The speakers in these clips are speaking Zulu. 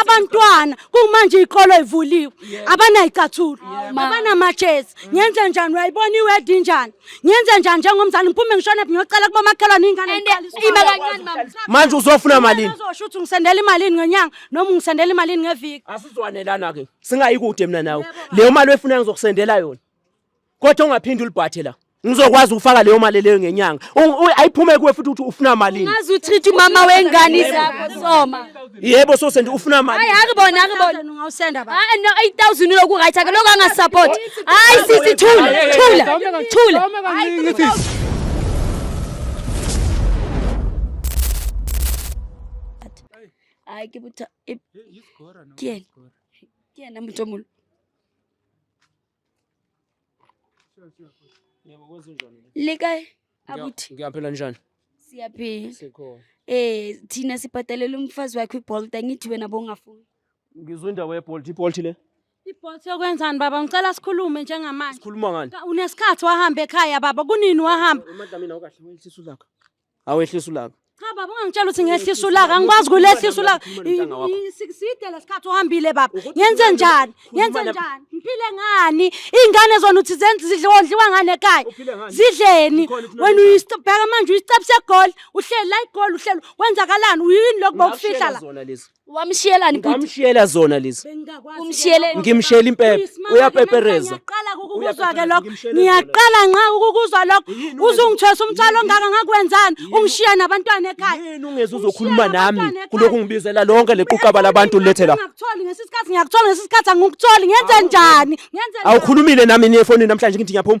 abantwana kumanje izikolo ivuliwe abanayicathulo abanamajezi ngenze njani uyayibona iwedi njani ngenze njani njengomzali ngiphume ngishone ngiyocela kuba makhelwane ingane manje uzofuna malini uzosho ukuthi ngisendela imalini ngenyanga noma ungisendela imalini ngeviki asizwanelana ke singayikude mina nawe leyo mali oyifuna ngizokusendela yona kodwa ungaphinde ulibhathe la ngizokwazi ukufaka leyo mali leyo ngenyanga ayiphume kuwe futhi ukuthi ufuna malini ngazi utreat umama wengane zakho soma yebo so sendi ufuna mali hayi akubona akubona ungawusenda ba hayi no 8000 uloku right ake lokho anga support hayi sisi thula thula thula hayi kibuta kiyena kiyena mtomulu lika akuthi ngiyaphela njani siyaphila sikhona eh thina sibhadalela umfazi wakhe ibolt angithi wena bongafuni ngizwe indawo yebolt ibolt le ibolt yokwenzani baba ngicela sikhulume njengamanje sikhuluma ngani unesikhathi wahamba ekhaya baba kunini wahamba emadlamini awukahle welisisu lakho Awehlisa ulaka. Cha baba ungangitshela ukuthi ngehlisa ulaka, angikwazi kulehlisa ulaka. Umntwana wakho. I- i- si- Side lesikhathi uhambile baba. Ukuthi Ngenze khuluma- njani? khuluma Ngenze la- njani? Ngiphile ngani? Izingane zona uthi zenze zidle odliwa ngani ekhaya? Uphile ngani? Zidleni. Ikhona ithi Wena unamandla. uyistebheka manje uyistep segol, uhleli la igol uhleli. Kwenzakalani? Uyini lokho bokufihla la? Zona lezi. Wamshiyelani bhuti? Ngamshiyela zona lezi. Umshiyele Ngimshiyela impepha. Uyapepereza. Ngiyaqala ukukuzwa ke lokho. Ngiyaqala nqa ukukuzwa lokho. Uzungithwesa umthwalo ongaka ngakwenzani? Ungishiya nabantwana ekhaya. Yini ungeze uzokhuluma nami kuloko ngibizela lonke lequqaba labantu lethe la. Ngiyakuthola ngesisikhathi ngiyakuthola ngesisikhathi angikutholi ngenze njani? Ngenze Awukhulumile nami ni efonini namhlanje ngithi ngiyaphuma.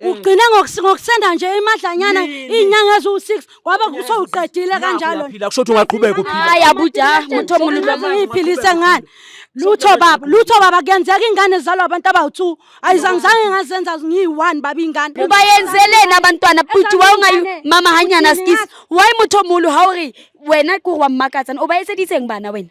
ugcine ngokusenda nje imadlanyana iy'nyanga eziwu-six kwaba kuso uqedile kanjalo kusho ukuthi ungaqhubeka uphilhayi abuda muntu omunuyphilise ngani lutho baba lutho baba kuyenzeka ingane zalwa abantu abawu-two ayizangizange ngazenza ngiyi-one baba ingane uba yenzeleni abantwana bhuti wawungayi mama hanyana skisi wayi muntu omulu hawuri wena kuri wammakazana uba yesedise ngibana wena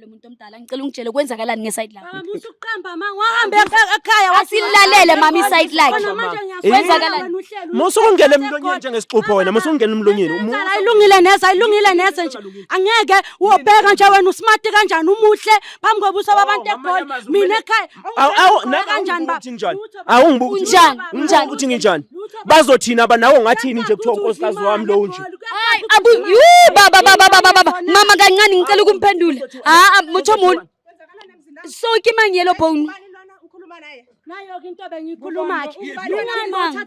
Lo muntu omdala ngicela ungitshele kwenzakalani ngeside lakho. Baba musa ukuqamba ma wahambe ekhaya wasilalele mama iside lakhe. Kwenzakalani? Musa ungena emlonyeni njengesixupho wena musa ungena emlonyeni. Ayilungile neze ayilungile neze nje. Angeke wobheka nje wena usmart kanjani umuhle phambi kobuso babantu eGoli mina ekhaya Awu awu nakanjani baba? Njani? Awu ngibuka ukuthi unjani? Unjani ukuthi nginjani? Bazothina aba nawe ngathini nje kuthiwa unkosikazi wami lo nje. Hayi abu yu baba baba baba baba mama kancane ngicela ukumphendula. Ha mutho muni. So kimangiyelo bone. Nayo ke into bengiyikhuluma ke. Lungani?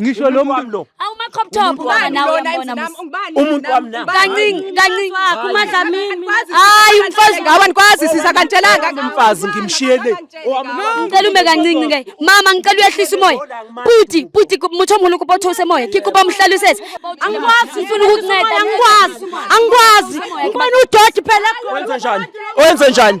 ngisho lo muntu lo awuma crop top wona nawe uyambona umuntu wami na kancingi kancingi kumadlamini hayi umfazi ngawa nikwazi sisa kantshelanga ngimfazi ngimshiyele ngicela ume kancingi ke mama ngicela uyehlisa umoya puti puti muthi omhulu kubothose moya kikuba umhlalisese angikwazi ngifuna ukukunceda angikwazi angikwazi ngibona udoti phela wenze njani wenze njani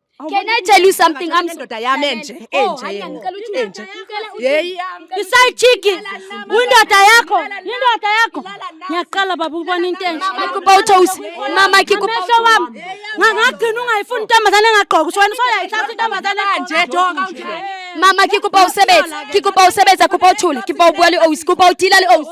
Can I tell you something? I'm indoda yami enje enje. Enje. Yeyi yami. Isayijiki. Indoda yakho. Indoda yakho. Ngiyaqala baba ubona into enje. Ngikuba uThosi. Mama ngikuba umehlo wami. Ngangagcina ungayifuni intombazane engagqoka. Usho wena usayayithatha intombazane kanje. Doka unje. Mama ngikuba usebenza. Ngikuba usebenza kuba uthule. Ngikuba ubuyali owisi. Kuba udila li owisi.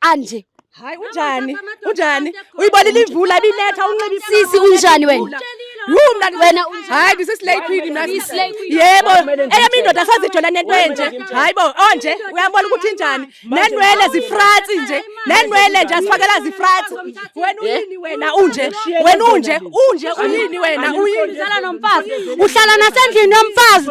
anje hayi unjani unjani uyibonile imvula ibinetha unxibe sisi unjani wena Yuu mntana wena hayi this is late queen mna yebo eyami indoda sazijola nento enje hayi bo onje oh, uyabona ukuthi injani nenwele zifratsi nje nenwele nje asifakela zifratsi wena uyini wena unje wena unje unje uyini wena uyini uhlala nomfazi uhlala nasendlini yomfazi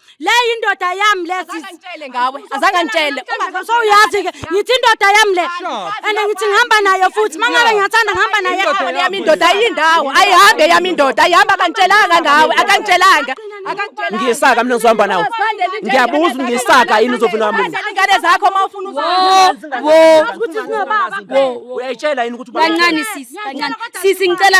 le indoda yami le sis Angitshele ngawe, azange angitshele. Uma- so uyazi ke ngithi indoda yami le and ngithi ngihamba nayo futhi mangabe ngiyathanda ngihamba nayo Indoda yami indoda ayindawo, ayihambe yami indoda, ayihamba akangitshelanga ngawe, akangitshelanga. Akangitshelanga. ngiyisaka mina ngizohamba nawe ngiyabuza ngiyisaka yini uzovuna wami Zala ingane zakho uma ufuna uzala. wo uyayitshela yini ukuthi kancane sisi kancane sisi ngicela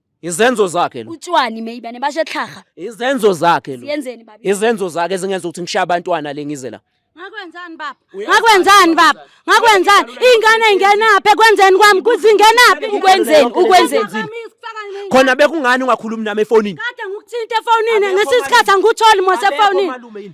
izenzo zakhe lo utshwani meyibane bashe tlhaga izenzo zakhe lo yenzeni baba izenzo zakhe ezingenza ukuthi ngishaye abantwana le ngize la ngakwenzani baba ngakwenzani baba ngakwenzani ingane ingenaphi ekwenzeni kwami kuzingenaphi ukwenzeni ukwenzeni khona bekungani ungakhulumi nami efonini kade ngikuthinte efonini ngesisikhathi angikutholi mose efonini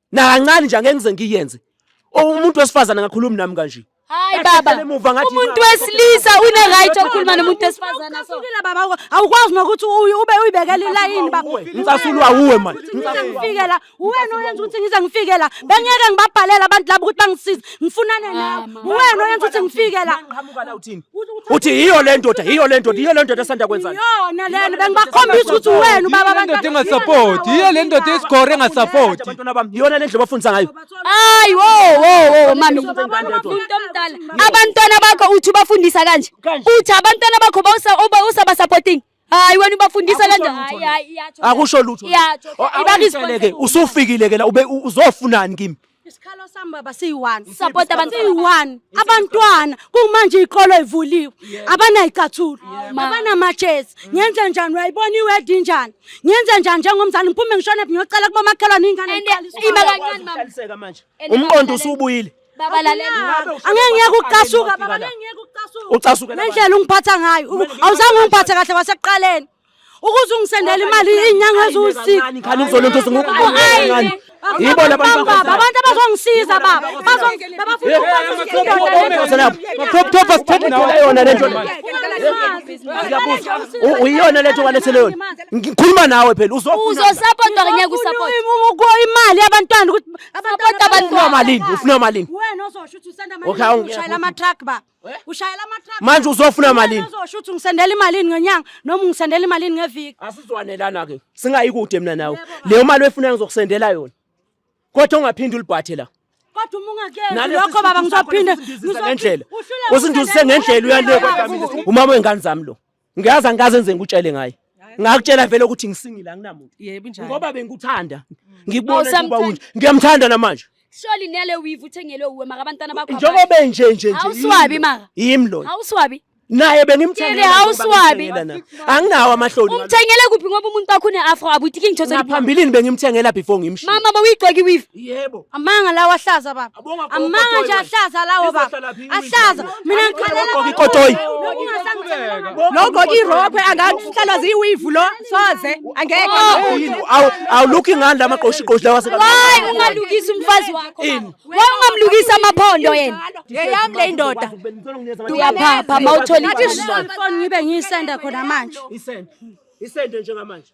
nakancane nje angeke ngize ngiyenze umuntu wesifazane angakhulumi nami kanje hayi baba umuntu wesilisa une right okhuluma nomuntu wesifazane so baba awukwazi nokuthi ube uyibekela ilayini baba ngicasula uwe manje ngifike la uwena oyenza ukuthi ngize ngifike la bengeke ngibabhalele abantu labo ukuthi bangisize Ngifunane ah, nawe. Uwena oyenza ukuthi ngifike la. Ngiqhamuka la uthini? Uthi yiyo le ndoda, yiyo le ndoda, yiyo le ndoda esanda kwenzana. Yona lena bengibakhombisa ukuthi uwena ubaba abantu. Indoda engasupport, yiyo le ndoda esigore engasupport. Abantwana bami, yona le ndlela bafundisa ngayo. Hayi wo wo wo mami. Abantwana bakho uthi ubafundisa kanje. Uthi abantwana bakho bawusa uba usaba supporting. Hayi wena ubafundisa le nto. Hayi hayi iyatsho. Akusho lutho. Iyatsho. Ibakiseleke usufikile ke la ube uzofunani kimi? Isikhalo sami baba siyi-one. Support abantu siyi-one. Abantwana kumanje ikolo ivuliwe. Abanayicathulo. Abanamajezi. Ngenze njani uyayibona iwedi injani? Ngenze njani njengomzali ngiphume ngishone ngiyocela kubomakhelwane ingane iqaliswe. Iba kancane mama. Umqondo usubuyile. Baba lalela. Angeke ngeke ukucasuka baba ngeke ngeke ukucasuka. Ucasuke la. Nendlela ungiphatha ngayo. Awuzange ungiphathe kahle wasekuqaleni. Ukuze ungisendele imali inyanga eziwusika. Khani ngizolo ntosi ngokungani. Yibo labantu baba abantu abazongisiza baba. Bazongena bafuna ukwenza lapho. Crop top asithethe nawe yona lento. Ngiyabuza. Uyiyona lento walethele yona. Ngikhuluma nawe phela uzofuna. Uzosapota ngeke usapota. Imali yabantwana ukuthi Sabota abantu ufuna malini? Ufuna malini? Wena uzosho ukuthi usenda malini? Okay, ushayela ama truck ba. Eh? Ushayela ama truck. Manje uzofuna malini? Wena uzosho ukuthi ngisendela imalini ngenyanga noma ngisendela imalini ngeviki. Asizwanelana ke. Singayi kude mina nawe. Leyo mali wefuna ngizokusendela yona. Kodwa ungaphindi ulibhathe la. Kodwa uma ungakezi lokho baba ngizophinde ngizophinde. Usinduzise ngendlela uyale kodwa mina. Umama wengane zami lo. ngiyazi angikaze nze ngikutshele ngaye ngakutshela vele ukuthi ngisingile anginamuntu yebo njalo ngoba bengikuthanda mm. ngikubona oh, ukuba unje ngiyamthanda namanje Surely nele weave uthengelwe uwe maka abantwana bakho njengoba nje nje nje awuswabi maka yimi lo awuswabi naye bengimthengele awuswabi anginawo amahloni umthengele kuphi ngoba umuntu wakho une afro abutiki ngithosa ngaphambilini bengimthengela before ngimshiya mama bawuyigcoki weave yebo amanga lawa hlaza baba amanga nje ahlaza lawo baba ahlaza mina ngikhalela ikotoyi lokho irokwe angahlalwa ziyiwivu lo soze angeke awuluki ngani lama qoshi qoshi lawa seka hayi ungalukisa umfazi wakho waye ungamlukisa amaphondo yena yeyami le indoda uyaphapha mawuthola ithi ngibe ngiyisenda khona manje isende isende njengamanje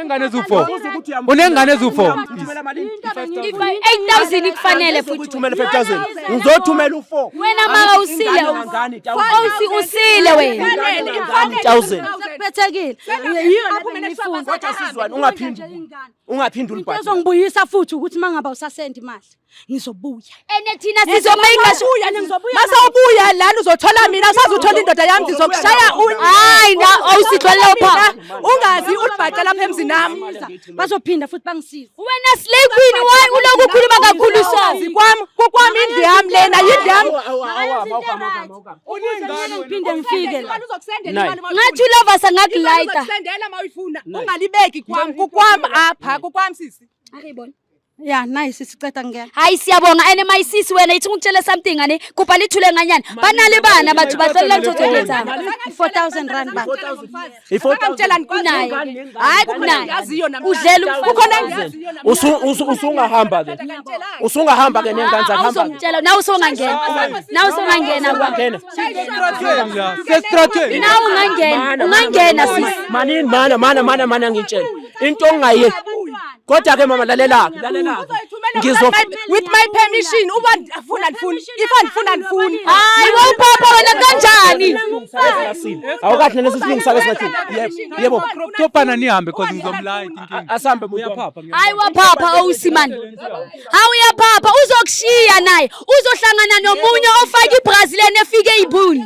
Unengane ezufo. Unengane ezufo. Ifa 8000 ikufanele futhi. Uthumele 5000. Ngizothumela u4. Wena mama usile. Usi usile wena. 5000. Kuphethekile. Ungaphindula. Ungaphindula. Uzongibuyisa futhi ukuthi mangaba usasendi imali. ngizobuya ene thina sizobuya sizobuya ngizobuya masawubuya lana uzothola mina usazothola indoda yami ngizokushaya hayi na awusithwele pha ungazi ulibhaca lapha emzini nami bazophinda futhi bangisiza wena slay queen why uloku ukhuluma kakhulu sazi kwami kokwami indlu yami lena yindlu yami uningane uphinde ngifike la ngathi ulova sangakulayita ungalibeki kwami kokwami apha kokwami sisi akayibona ya nayi sisi ceda ngena hayi siyabonga ene mayisisi wena yithi ngikutshele something ngane kubha lithule nganyana banali bana bathu bacelela ngithotheketha 4000 rand ba ngitshela ngikunaye hayi kunaye udlela kukhona engiyaziyo usungahamba ke usungahamba ke nengane zakhe hamba usongitshela nawe usongangena nawe usongangena kwa sesitrathe nawe ungangena ungangena sisi manini mana mana mana mana ngitshela into ongaye kodwa ke mama lalela lalela ngizo with my permission uba afuna andifuni if andifuna andifuni hayi wawupapa wena kanjani awukahle lesi silungisa ke singathi yebo topana nihambe cause ngizomlaya inkinga asambe uyaphapha hayi waphapha owusimani hawu uyaphapha uzokushiya naye uzohlangana nomunye ofake ibrazilian efike ibuni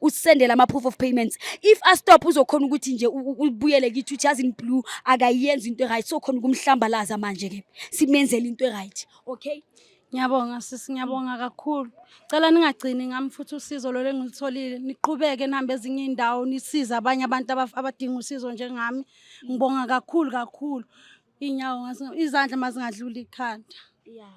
usendele ama-proof of payments if astop uzokhona ukuthi nje ubuyele kithi uthi yazi blue akayenzi into eright so khona ukumhlambalaza manje ke simenzele into eright okay Ngiyabonga sisi, ngiyabonga kakhulu. Cela ningagcini ngami futhi usizo lolu engilutholile. Niqhubeke nihambe ezinye iy'ndawo nisize abanye abantu abadinga usizo njengami. Ngibonga kakhulu kakhulu. Iy'nyawo izandla mazingadluli ikhanda. Yeah.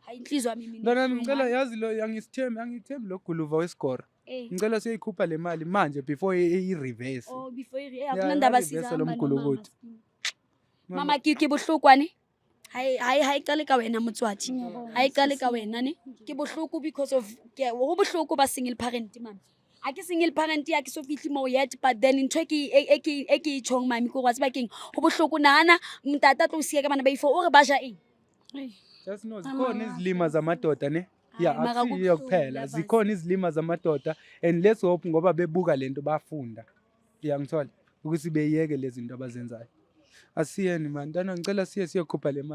Hayi inhliziyo yami mina. Mntana ngicela yazi lo angisithembi angithembi lo guluva wesigora. Eh. Ngicela siyoyikhupha le mali manje before i-reverse. Oh before i-reverse. Eh, Akunandaba siza lo mgulukuthi. Mama kiki buhlukwane. Hayi hayi hayi qale ka wena motswati. Hayi qale ka wena ne. Ke bohloko because of ke ho bohloko ba single parent mama. a ke seng e le parent ya ke so fitlhe moo yet but then ntho e ke- e- e ke- e ke e tšhong mami ko wa tseba keng go botlhoko nagana mtata tlo o sia ka bana ba ifo o re ba ja eng just know zikhona izilima zamadoda ne ya Hayi, mara akusiyo kubuhlungu, kuphela yabas. zikhona izilima zamadoda and let's hope ngoba bebuka le nto bafunda uyangithola ukuthi beyeke lezi zinto abazenzayo asiyeni mani ntwana ngicela siye siyokhupha le mali